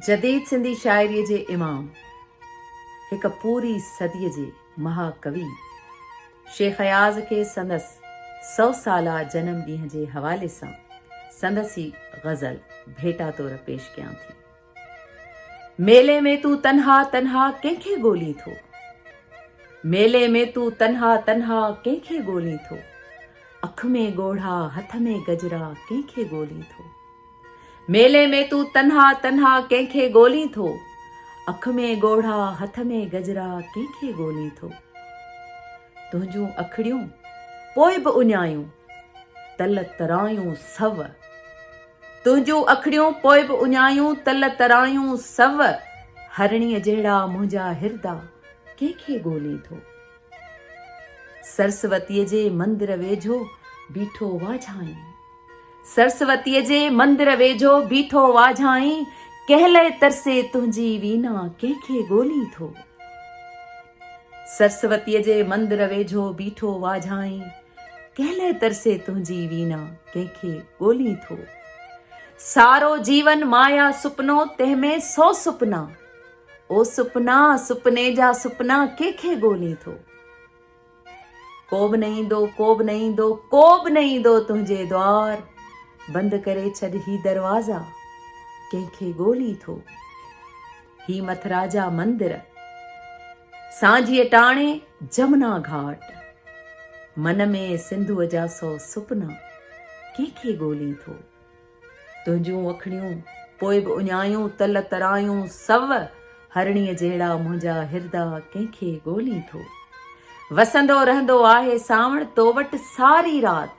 جديد سنڌي شاعريء جي امام، هڪ پوري صديء جي مها ڪوي شيخ اياز کي سندس سؤ سالا جنم ڏينهن جي حوالي سان سندس هي غزل ڀيٽا طور پيش ڪيان ٿي. ميلي ۾ تون تنها تنها ڪنهن کي ڳولين ٿو؟ ميلي ۾ تون تنها تنها ڪنهن کي ڳولين ٿو؟ اک ۾ ڳوڙها هٿ ۾ گجرا ڪنهن کي ڳولين ٿو؟ ميلي ۾ تون تنها تنها ڪنهن کي ڳولين ٿو؟ اک ۾ ڳوڙها هٿ ۾ گجرا ڪنهن کي ڳولين ٿو؟ تنهنجون اکڙيون پوء به اڃايون تل ترايون سو تنهنجون اکڙيون پوء به اڃايون تل ترايون سو هرڻي جهڙا منهنجا هردا ڪنهن کي ڳولين ٿو؟ سرسوتيء جي مندر ويجهو بيٺو واجهائين سرسوتيء جي مندر ويجهو بيٺو واجهائين ڪنهن لئه ترسي تنهنجي وينا ڪنهن کي ڳولين ٿو سرسوتيء جي مندر ويجهو بيٺو واجهائين ڪنهن لئه ترسي تنهنجي وينا ڪنهن کي ڳولين ٿو سارو جيون مايا سپنو تنهن ۾ سو سپنا او سپنا سپني جا سپنا ڪي کي ڳولين ٿو ڪوب نه ايندو ڪوب نه ايندو ڪوب نه ايندو تنهنجي دوار بند ڪري ڇڏ هي دروازا ڪنهن کي ڳولين ٿو هي مٿرا جا مندر سانجي ٽاڻي جمنا گھاٽ من ۾ سنڌو جا سو سپنا ڪنهن کي ڳولين ٿو تنهنجون وکڙيون پوء به اڃايون تل ترايون سو هرڻيء جهڙا منهنجا هردا ڪنهن کي ڳولين ٿو وسندو رهندو آهي سانوڻ تو وٽ ساري رات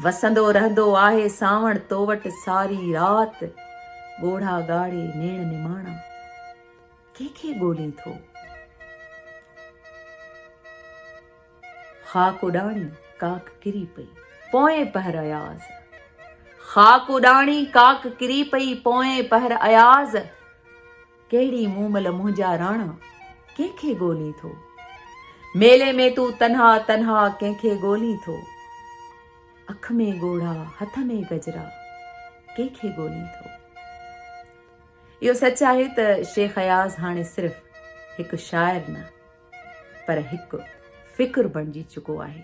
وسندو رهندو آهي سانوڻ تو وٽ ساري رات ڳوڙها ڳاڙي نيڻ نماڻا ڪنهن کي ڳولين ٿو خاڪ اڏاڻي ڪاڪ ڪري پئي پوئين پهر اياز خاڪ اڏاڻي ڪاڪ ڪري پئي پوئين پهر اياز ڪهڙي مومل منهنجا راڻا ڪنهن کي ڳولي ٿو ميلي ۾ تون تنها تنها ڪنهن کي ڳولي ٿو اک ۾ ڳوڙها هٿ ۾ گجرا ڪنهن کي ڳولي ٿو اهو سچ آهي ته شيخ اياز هاڻي صرف هڪ شاعر نه پر هڪ فڪر بڻجي چڪو آهي